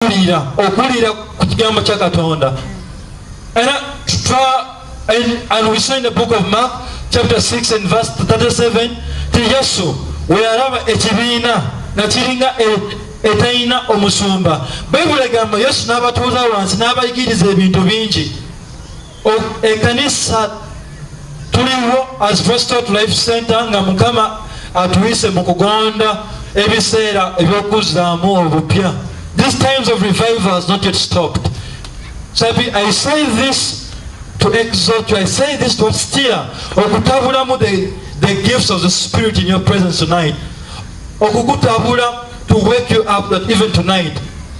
okuwulira okuwulira ku kigambo kya katonda era book of mark chapter 6 and verse 37 ti yesu weyalaba ekibiina nga kiringa e, etalina omusumba bayibuli egamba yesu n'abatuuza wansi n'abayigiriza ebintu bingi ekanisa tuliwo as prostot life center nga mukama atuyise mu kugonda ebiseera ebyokuzaamu obupya this times of revival has not yet stopped sabi i say this to exalt you i say this to steer okutabulamu the, the gifts of the spirit in your presence tonight okukutabula to wake you up that even tonight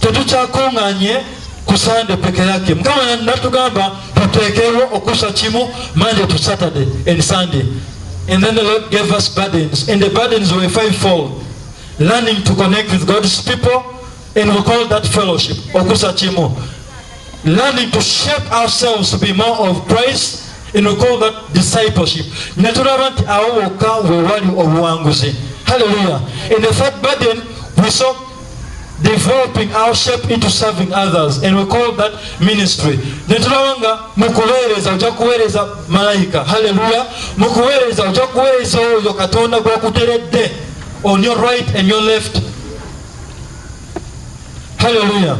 tetukyakunganye ku sande peke yake mukama natugamba tuteekewo okusa kimu monday to saturday and sunday and then the lord gave us burdens and the burdens were five fold learning to connect with god's people and we call that fellowship okusa kimu learning to shape ourselves to be more of christ and we call that discipleship netulaba nti awo wokka wewali obuwanguzi hallelujah and the third burden we saw developing our shape into serving others and we call that ministry netulaba nga mukuweereza oja kuweereza malayika halleluya mukuweereza oja kuweereza oyo katonda gwakuteredde on your right and your left halleluya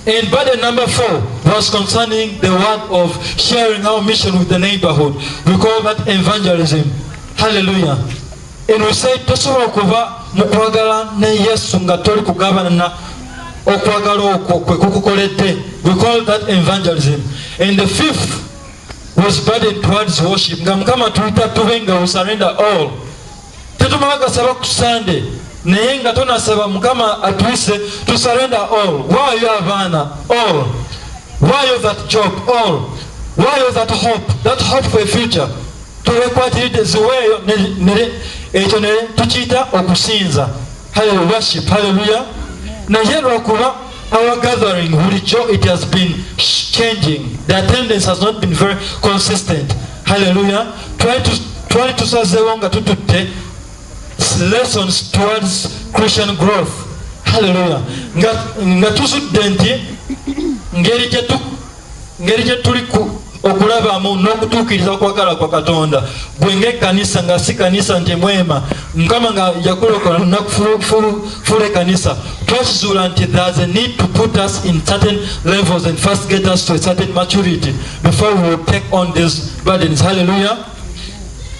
And burden number four was concerning the word of sharing our mission with the neighborhood. We call that evangelism. Hallelujah. Eno said tosobola kuva mu kwagala ne Yesu nga toli kugabanana okwagala okwo kwe kukukoledde we call that evangelism and the fifth was burden towards worship nga mukama tuyita tube nga we surrender all tetumala gasaba ku sande naye nga tonasaba mukama atwise to surrender all waayo abaana all waayo that job all waayo that hope that hope for a future tobekwatiridde ziweeyo ekyo ne tukiyita okusinza worship haleluya naye lwakuba our gathering bulijjo it has been changing the attendance has not been very consistent haleluya twali tusazeewo nga tututte lessons towards christian growth haleluya nga tuzudde nti ngeri gyetu ngeri gye tuli okulabamu n'okutuukiriza okwagala kwa katonda gwe ngaekkanisa nga si kanisa nti mwema mukama nga yakulokola nakufula ekkanisa twakizuula nti there's a need to put us in certain levels and first get us to a certain maturity before we will take on these burdens halleluya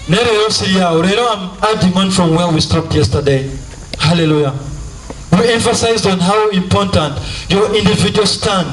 naye leero siryawo leero am adding on from where we stopped yesterday halleluya we emphasized on how important your individual stand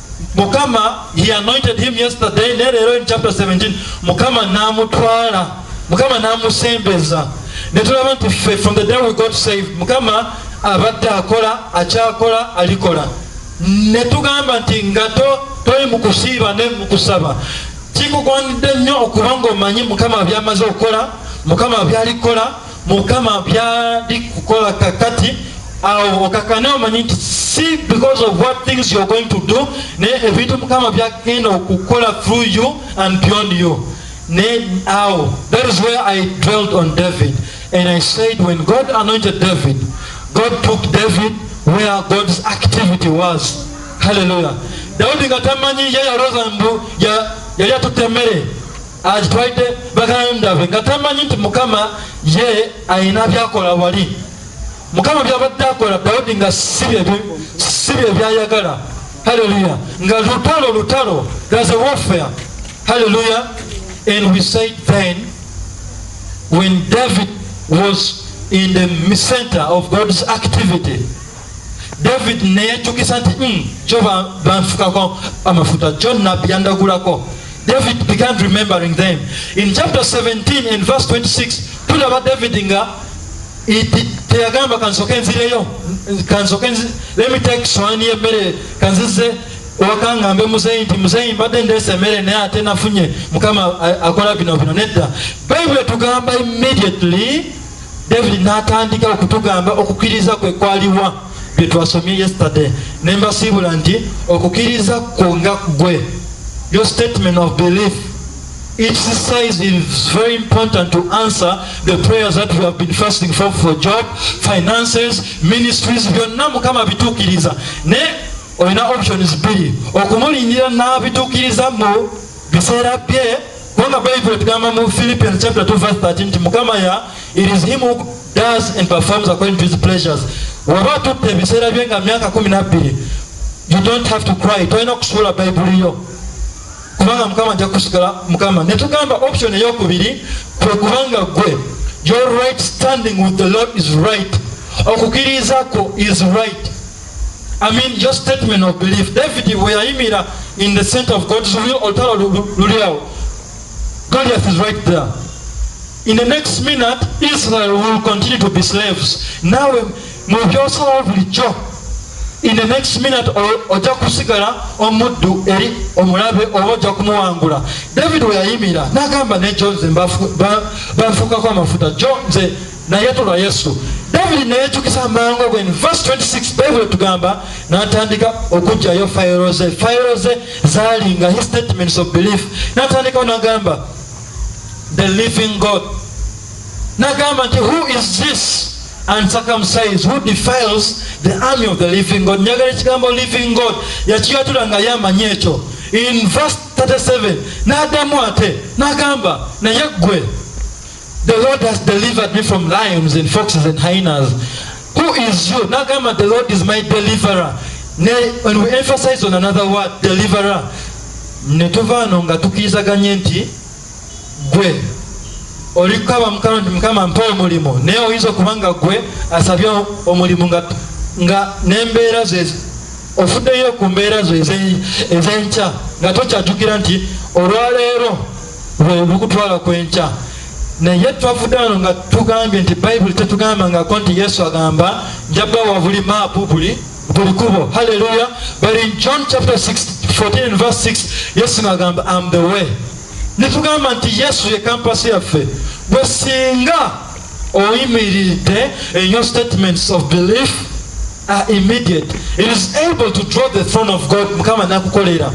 mukama he anointed him yesterday ne leero in chapter 17 mukama n'amutwala mukama n'amusembeza ne tulaba nti ffe from the day we got saved mukama abadde akola akyakola alikola ne tugamba nti nga toli mu kusiiba ne mu kusaba kikugwanidde nnyo okuba ng'omanyi mukama byamaze okukola mukama byalikola mukama byali kukola kakati awo okakane omanyi nti si because of what things you're going to do naye ebintu mukama byagenda okukola through you and beyond you naye awo that is where i dwelled on david and i said when god anointed david god took david where god's activity was hallelujah daudi nga tamanyi ye yaloza mbu yali atutte emmere agitwalidde baganda be nga tamanyi nti mukama ye alina byakola wali mukama byabadde akola dawudi nga si bye byayagala haleluya nga lutalo lutalo there's a warfare haleluya and we said then when david was in the center of god's activity david neyejjukisa nti hmm, kyo banfukako amafuta kyo nabbi yandagulako david began remembering them in chapter 17 and verse 26 tulaba david nga teyagamba kansoke nzireyo kansoke let me take swani yemmere kanzize wakangambe muzeyi nti muzeyi mbadde ndeesa emmere naye ate nafunye mukama akola bino bino nedda bayibuli etugamba immediately david natandika okutugamba okukiriza kwe kwaliwa byetwasomye yesterday nembasiibula nti okukiriza kwo nga gwe your statement of belief its size is very important to answer the prayers that we have been fasting for for job finances ministries byonna mukama bituukiriza ne olina options bbiri okumulindira n'abituukiriza mu biseera bye kubanga bayibuli etugamba mu philippians chapter 2 verse 13 nti mukama ya it is him who does and performs according to his pleasures waba tutte ebiseera bye nga myaka kumi nabbiri you don't have to cry tolina okusuula bayibuli yo kubanga mukama nja kusigala mukama ne tugamba option eyokubiri kwe kubanga gwe your right standing with the lord is right okukiriza kwo is right I mean your statement of belief david weyayimira in the center of god's will olutalo luliawo goliath is right there in the next minute israel will continue to be slaves nawe mubyosalawo bulijjo in the next minute ojja kusigala omuddu eri omulabe oba ojja kumuwangula david weyayimira nagamba ne jo nze banfukako amafuta jo nze naye tulwa yesu david neyejukiza amangu ago in verse 26 bible etugamba natandika okugjayo fayiro ze fayiro ze zalinga his statements of belief natandikawo nagamba the living god nagamba nti who is this uncircumcised who defiles the army of the living god njagala ekigambo living god yakiyatula nga yamanyi ekyo in verse 37 nadamu ate nagamba naye ggwe The Lord has delivered me from lions and foxes and hyenas. Who is you? Nagamba, the Lord is my deliverer. When we emphasize on another word, deliverer, netuva ano nga tukirizaganye nti gwe oli kukaba mukama nti mukama mpa omulimu naye oyinza okuba nga gwe asabye omulimu nga nembeera ze ofuddeyo ku mbeera zo ezenkya nga tokyatukira nti olwaleero olukutwala kwenkya naye twavudde wano nga tugambye nti bayibuli tetugamba ngako nti yesu agamba njabawa buli maapu buli buli kubo halleluya but in john chapter 6 14 and verse 6 yesu ngagamba am the way netugamba nti yesu ye kampasi yaffe bwe singa oyimiridde in your statements of belief are immediate it is able to draw the throne of god mukama nakukolera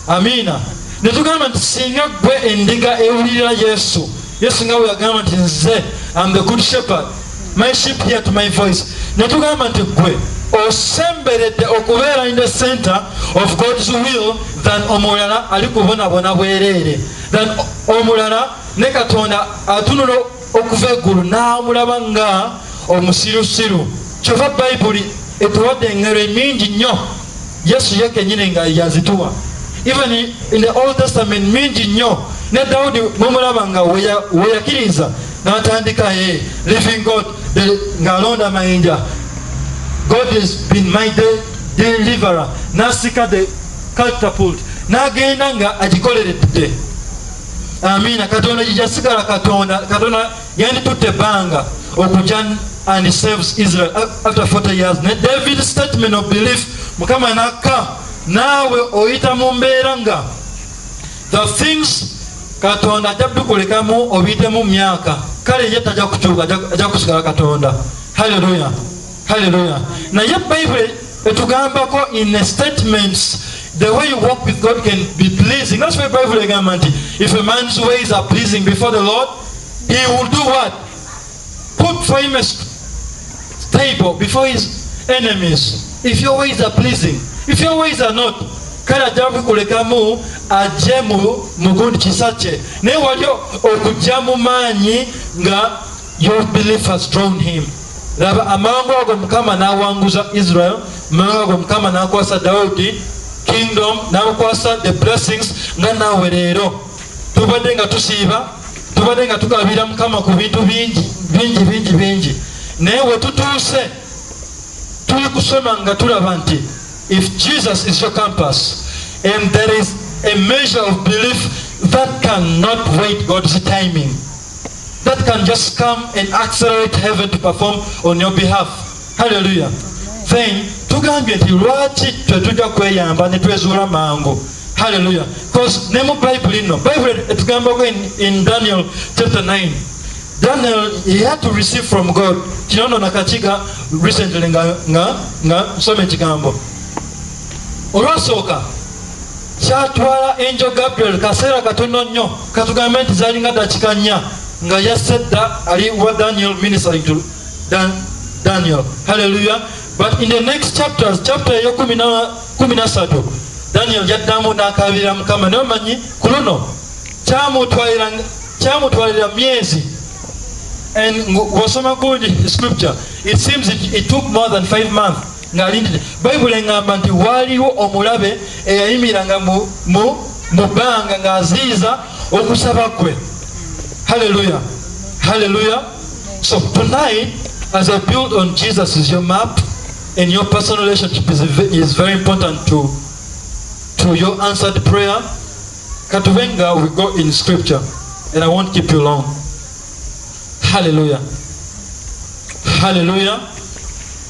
amiina ne tugamba nti singa gwe endiga ewulirira yesu yesu nga weyagamba nti nze am the good shepherd my ship here to my voice ne tugamba nti gwe osemberedde okubeera in the center of god's will than omulala ali kubonabona bwereere than omulala ne katonda atunula okuva eggulu n'amulaba nga omusirusiru kyova bayibuli etuwadde engero emingi nnyo yesu ye kenyini nga yazituwa even in the old testament mingi nnyo ne dawudi mumulaba nga weyakiriza natandika ye living god ng'alonda mayinja god has been my day deliverer nasika the catapult n'agenda nga agikoleredde amiina katonda gyejasigala katonda katonda yanditutte ebbanga okuja and saves israel after 40 years ne david statement of belief mukama nakka naawe oyita mu mbeera nga the things katonda ajja bikulekamu obiyitemu myaka kale ye tajja kukyuka ajja kusigala katonda halleluya haleluya naye bible etugambako in a statements the way you walk with god can be pleasing that's why bible egamba nti if a man's ways are pleasing before the lord he will do what put for him a table before his enemies if your ways are pleasing if your ways are not kale ajja kukulekamu ajje mu gundi kisa kye naye wali okujja mu maanyi nga Your belief has drawn him. Laba amangu ago Mukama n'awanguza Israel, amangu ago Mukama n'akwasa Dawudi kingdom, n'akwasa the blessings nga naawe leero. Tubadde nga tusiiba, tubadde nga tukabira Mukama ku bintu bingi bingi bingi bingi. Naye we tutuuse tuli kusoma nga tulaba nti if Jesus is your compass and there is a measure of belief that cannot wait God's timing. that can just come and accelerate heaven to perform on your behalf hallelujah then tugambye nti lwaki twetujja kweyamba netwezuula mangu hallelujah bcause ne mu bayibuli nno bayibuli etugambako in daniel chapter 9 daniel he had to receive from god kino no nakakiga recently nga nsoma ekigambo olwasooka Kyatwala Angel Gabriel kaseera katono nnyo, katugambe nti zalinga dakika nnya nga yasse dda ali wa Daniel ministering to Dan, Daniel. Hallelujah. But in the next chapters, chapter eyo kumi na kumi na satu daniel yaddamu n'akaabirira mukama naye omanyi ku luno kyamutwalira myezi and wasoma good scripture it seems it, it took more than five months ng'alindidde bayibuli eŋŋamba nti waaliwo omulabe eyayimiranga mu bbanga ng'aziyiza okusaba kwe halleluya halleluya so tonight as i build on jesus is your map and your personal relationship is, is very important to, to your answered prayer katuvenga we go in scripture and i won't keep you long halleluya halleluya